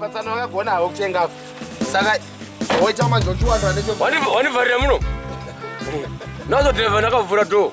patsana wakagona havo kutenga saka woita manjochiwandu anewanivarira muno nazodhireva ndakavhura dhoo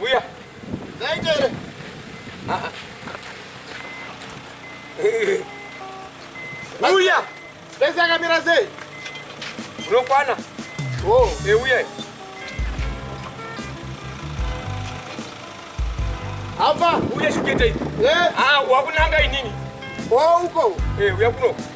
Uya. Zaita here? Uya. Space yakamira sei? Unokwana. Oh, euya. Apa uya shuketa iyi. Eh, ah, wakunanga inini. Oh, uko. Eh, uya kuno.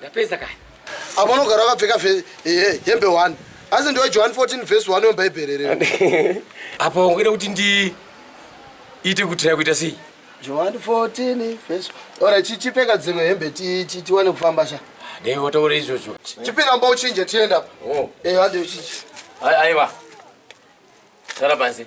ndapedza kani apo unogara wakapfeka hembe 1 asi ndiwe john 14 vhesi 1 yomubhaibheri rero apo ungaita kuti ndi ite kutira kuita sei john 14 vhesi ora chichipfeka dzimwe hembe tiwane kufamba sha dai wataura izvozvo chipinda mba uchinje tienda apo oh. eh, aiwa sara pansi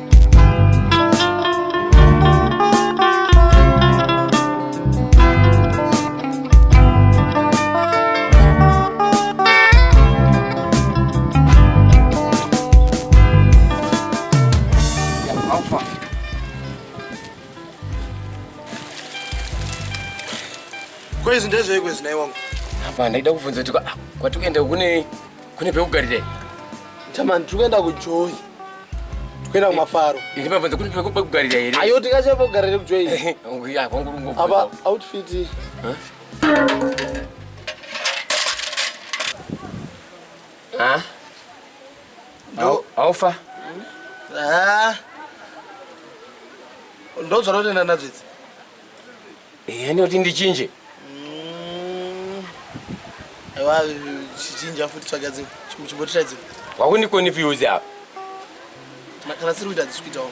Kwezi ndezveiko zinayi wangu? Hapana, ndaida kubvunza kuti ah, kwatikuenda kunei? kune pekugarira chamani tiri kuenda kujoyi kuenda eh, kumafaro eh, ndimabvunza kune pekugarira here ayo tingachai pekugarira kujoyi eh, apa outfit aufa ndodzvara kutenda nadzo idzi Ehe ndoti ndichinje. Mm. Ewa chichinja futi tsvaga dzimwe. Chimbotirai dzimwe. Wakundikonifuse apa. Kana siri kuita dzisi kuitawo.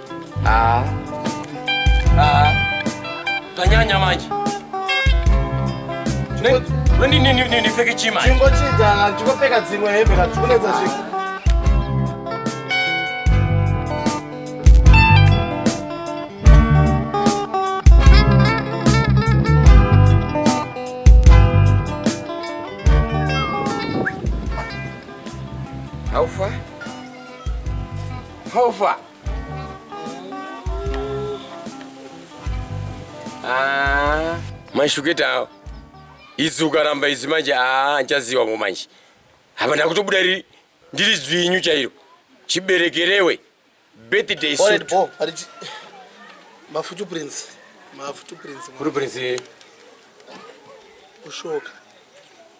Ah. Ah. Tanyanya manje. Nini nini nini fike chima. Chingo chidana, chingo peka dzimwe hembe ka chikunetsa zviko. How far? How far? Ah. Maishuketa awo. Idzi ukaramba idzi manje aa ah, nchaziwa ngo manje. Hapa ndakutobuda riri ndiri dzwinyu chairo. Chiberekerewe. Birthday suit. Alright, bo. Ariti. Mafutu prince. Mafutu prince. Kuri prince. Kushoka.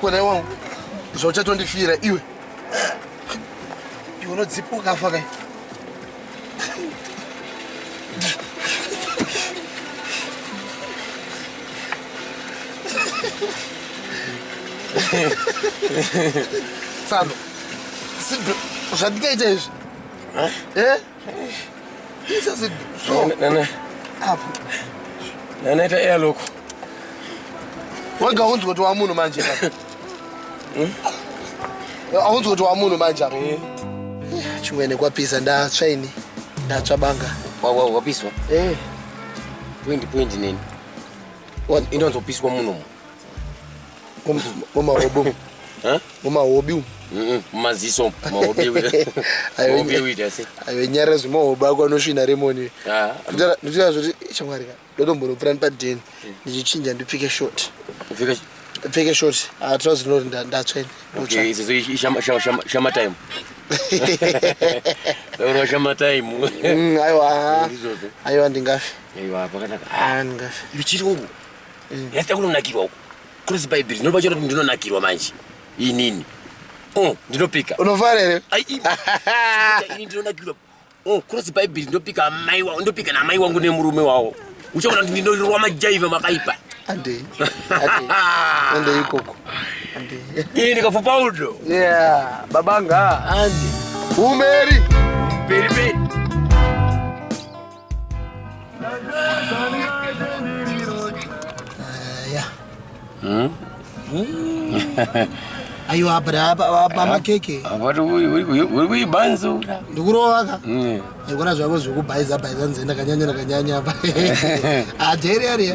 kona iwangu zvauchatondifira iwe iwe unodzipa ukafa kai tsano zvandikaita izvi eh? nanaita eya loko wega aunzi kuti wamunhu manje hmm? aunzi kuti wamunhu manje apo eh. chimwene kwapisa ndatsva ini ndatsva banga wapiswa eh. pwendi pwendi neni inonzopiswa munomu mumahobi mumahobi umu mumaziso ayo nyara zvimahoba ako anosvina remoni ah. nditoa zvoti chamwari ka ndotombonopura ndipadheni hmm. ndichichinja ndipfike short pfeke short hatrozi ah, rinoti ndatsvene shamatime oro shamatime hmm, aiwa aiwa ndingafe aiwa pakanaka ah, ndingafe ichiri uku mm. yasita kunonakirwa uku kurosi bhaibheri ndinoba chero kuti ndinonakirwa manje inini oh, ndinopika unofara here ini ndinonakirwa oh, kurosi bhaibheri ndopika amai wavo ndopika naamai wangu nemurume wavo uchaona kuti ndinorirwa majaiva makaipa andei andei ikoko ini ndikafupa udo yeah babanga andi umeri beri beri aiwa apa apa makeke uri kuibanzura ndikurovaka ndikuona zvako zvekubhaiza bhaiza nzenda kanyanya nakanyanya apa adheri ariya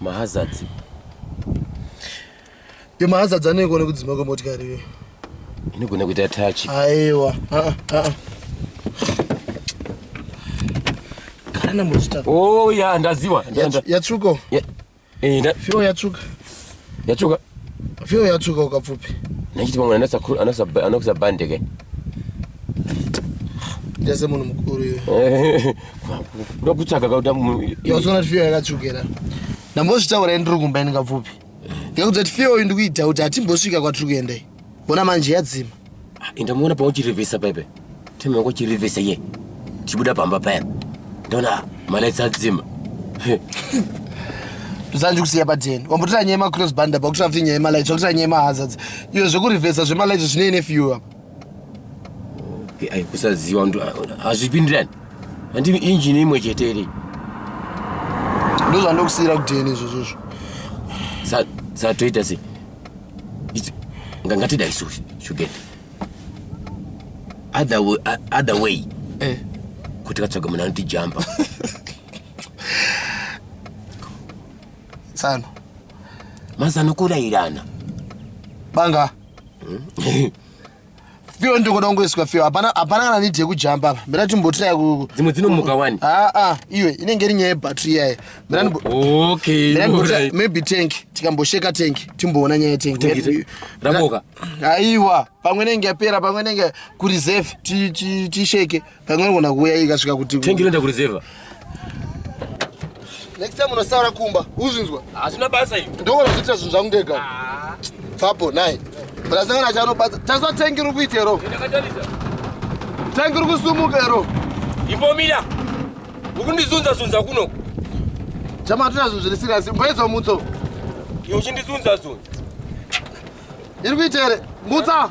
mahazards yo mahazards anoiko nekudzima kwemotikari iyoyo inogona kuita tachi aiwa ah, ah, ah. kana musta oh ya ndaziwa yatsvuko eh, fiwo yatsvuka yatsvuka Fio yatsvuka ukapfupi. Nechiti pamwe anasa anasa anokusa bande ke. Ndase munhu mukuru iwe. Ndokutsvaga kauta munhu. Yasona fio yakatsvukira. Ndambozvitaura ndiri kumba ndingapfupi. Ngekuti fio ndikuita kuti atimbosvika kwatiri kuenda. Bona manje yadzima. Ah, Inda muona pa uchirevesa pepe. Teme wako chirevesa ye. Chibuda pamba paya. Ndona malaitsa dzima. Zanju kusiya pa 10. Wambotira nyaya ma cross band apa kutira futi nyaya ma lights, kutira nyaya ma hazards. Iyo zvekurevesa zvema lights zvine ne fuel apa. Ai kusaziwa ndo azvipindirani. Andi engine imwe chete iri. Ndozvandokusira kudeni izvozvo. Sa sa toita sei? ngatidai suri shugende other way, other way. Eh. kuti katsvaga munhu anotijamba tsano mazano kurayirana banga hmm? Fio ndiko dongoiswa fio. Hapana hapana kana need yekujamba apa. Mira timbotirai ku dzimwe dzinomuka wani. Ah ah, iwe inenge iri nyaya battery yaye. Mira ndo Okay. Mira ndo maybe tank. Tikambosheka tank. Timboona nyaya tank. Raboka. Aiwa, pamwe nenge yapera, pamwe nenge ku reserve ti ti ti shake. Ti Kanganogona kuuya ikasvika kuti tengi inoenda kurizevha. Next time unosaura kumba, uzvinzwa? Hazvina basa izvi. Ndogona kuzoita zvinhu zvangu ndega. Ah. Fapo naye. Brasangana chanobata. Taswa tengi iri kuita ero. Tengi iri kusumuka ero. Imbomira. Ukundizunza zunza kuno. Chama hatuna zvinhu zviri serious. Mboedza mutso. Iwe uchindizunza zunza. Iri kuita ere? Mutsa.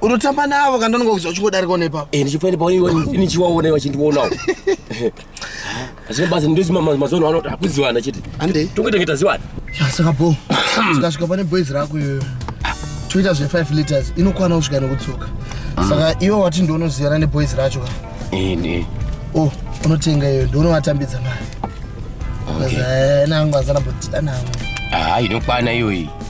unotamba navo kana unenge kuziva uchingodarikawo nepapo eh, ndichifanira paoneiwa ndichiwaona vachindionawo zvinebasa ndozimamazono anoti akuziwana chete ande tongoita ngeta ziwana saka bo tikasvika pane boys rako iyoyo toita zve 5 liters inokwana kusvika nekudzoka mm. saka iwe wati ndionoziyana neboys racho ka eh, o oh, unotenga iyoyo ndionovatambidza mari eh, nangu azana botida nangu ah, inokwana iyoyi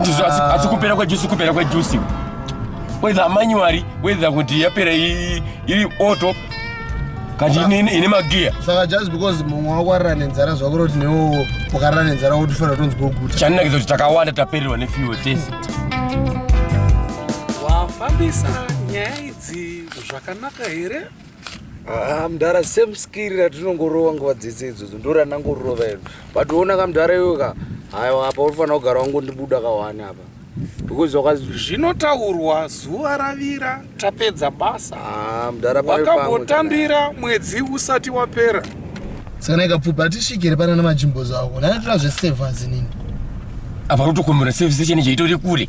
ndizvo asi asi kupera kwejusi kupera kwejusi whether manually whether kuti yapera i- iri auto kati ine- ine ine magiya saka just because mumwe wako arira nenzara zvako roti newowo ukarira nenzara wotifanira tonzwa kuguta chaninakiza kuti takawanda tapererwa nefuel tese wafambisa nyaya idzi zvakanaka here Ah, mdhara same skiri ratinongorova nguva dzese idzodzo ndo ranangorova iro but ona ka mdhara iwe ka haiwa apa unofanira kugara wangondibuda kawani apa because waka zvinotaurwa zuva ravira tapedza basa ah, mdhara wakambotambira mwedzi usati wapera sakana ikapfupa atisvikire pana namajimbo zavo nanatora zvesevhazi nini apa rotokomera sevisi chene chaitori kure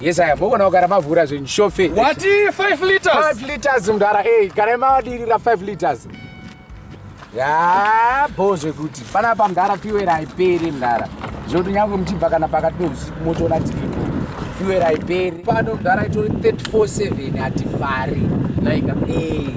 Yes, I am. Mokona kugara mavhura zvinhu shofe. What? 5 liters. 5 liters mdara. Hey, kana madirira 5 liters. Ya, bo zvekuti. Pana pa mdara fuel haiperi mdara. Zvekuti nyangwe mchibva kana pakati pehusiku motoona tiripo. Fuel haiperi. Pano mdara itori 347 hatifari. Naika. Eh.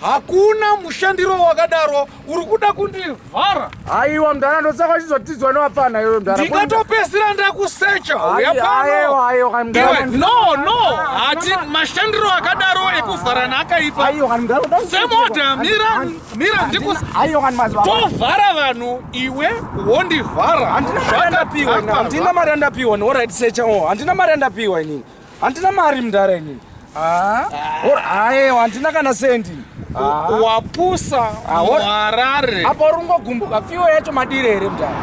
hakuna mushandiro wakadaro uri kuda kundivhara aiwa mdara ndosaka uchizotidzwa newapfana iwe mdara ndingatopedzisira ndakusecha uya panono no hati mashandiro akadaro ekuvharana akaipa semoda mira mira ndikutovhara vanhu iwe wondivhara handina mari andapiwa handina mari andapiwa inini Handina mari mdara ini. Ah. Or aye handina kana sendi. Ah. Wapusa ah, muharare. Apa uri kungogumbuka fiwo yacho madire here mdara?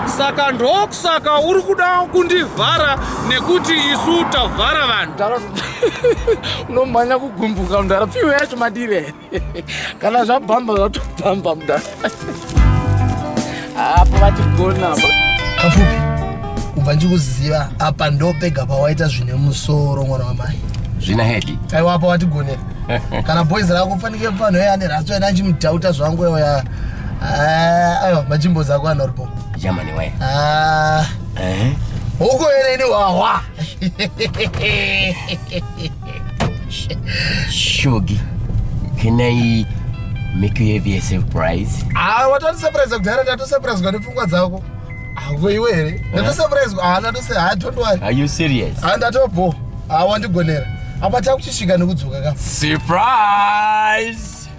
Saka ndokusaka uri kuda kundivhara nekuti isu tavhara vanhu. Unomhanya kugumbuka mdara fiwo yacho madire here? kana zvabhamba zvatobhamba muda apo vatigona kafupi kubva ndikuziva apa ndopega pawaita zvine musoro mwana wamai zvina hedi aiwa apa watigonera kana boys rako fanike pano ye ane ratso ena achimudhauta zvangu ya eh, aiwa majimbo zako anoripo jamani waye ah. eh. huko yene ini wahwa Shogi, can I make you have a surprise? Ah, watoti surprise kudhara ndato surprise kwa nepfungwa dzako. Ako iwe here? Ndato surprise kwa ana to say, ah, don't worry. Are you serious? Ah, ndato bo. Ah, wandigonera. Apa takuchisvika nekudzoka ka. Surprise!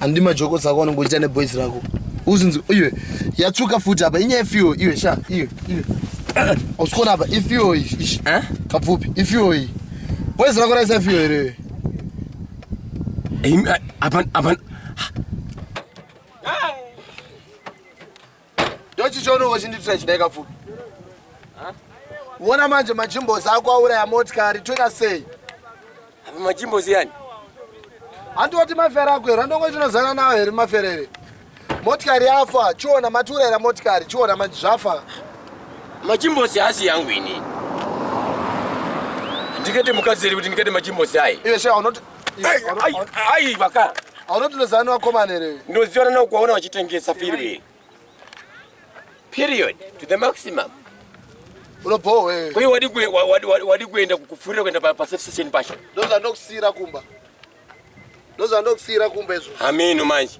handi majoko sako anongo ita ne boys rako uzinzi iwe yatsvuka futi apa inyaya yefiwo iwe sha iwe iwe usikona apa ifiwo ishi eh? kapfupi ifiwo iyi boys rako raisa ifiwo here apa apa Ndochi chono wachinditira chidai kapfupi. Uona manje majimbozi ako auraya motikari toita sei? Apa majimbozi yani? Handoti mafere ako here? Handongo tinozana nawo here mafere here? Motikari yafa, chiona matiurayira motikari, chiona manje zvafa. Majimbozi haasi yangu ini. Ndikete mukadzi here kuti ndikete majimbozi ayi? Iwe shaya unoti Ai baka. Aunoti ndozana wakomana here? Ndoziona na kuona wachitengesa firi. Period to the maximum. Unobowa wewe. Kwa hiyo wadi kwe wadi wadi kuenda kukufurira kwenda pa safe station pasha. Ndoza ndokusira kumba. Ndoza ndokusira kumba izvo. Ameno manje.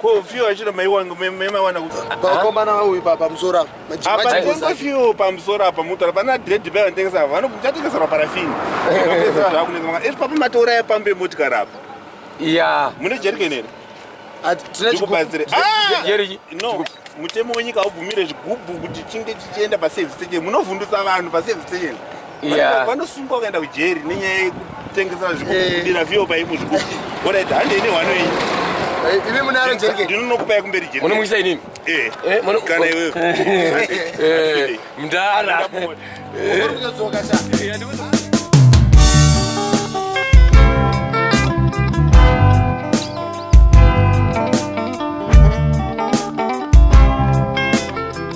Ko few achino maiwanga maiwana kuti vakomana vauyi pa pamusoro apa. Apa tenga few pamusoro apa mutara pana dread bag vanotengesa apa vanoku chatengesa pa parafini. Vanotengesa zvaku nenga maka. Iri papa matora ya pambe motikari apa. Yeah. Mune jerken here? Ndikubatsire. Ah! Jeriki. No. Mutemo wenyika haubvumire zvigubhu kuti chinge chichienda pa service station. Munovhundutsa vanhu pa service station. Yeah. Vanosungwa kuenda kujeri nenyaya yekutengesa zvekudira eh. vio paipo zvikuti. Orait, hande ine hwano iyi. Eh, imi munaro jeri ke? Ndinokupai kumberi jeri. Munomuisa inini? Eh. eh Kana iwewe. Eh. Mdara. Eh. Unodzoka sha.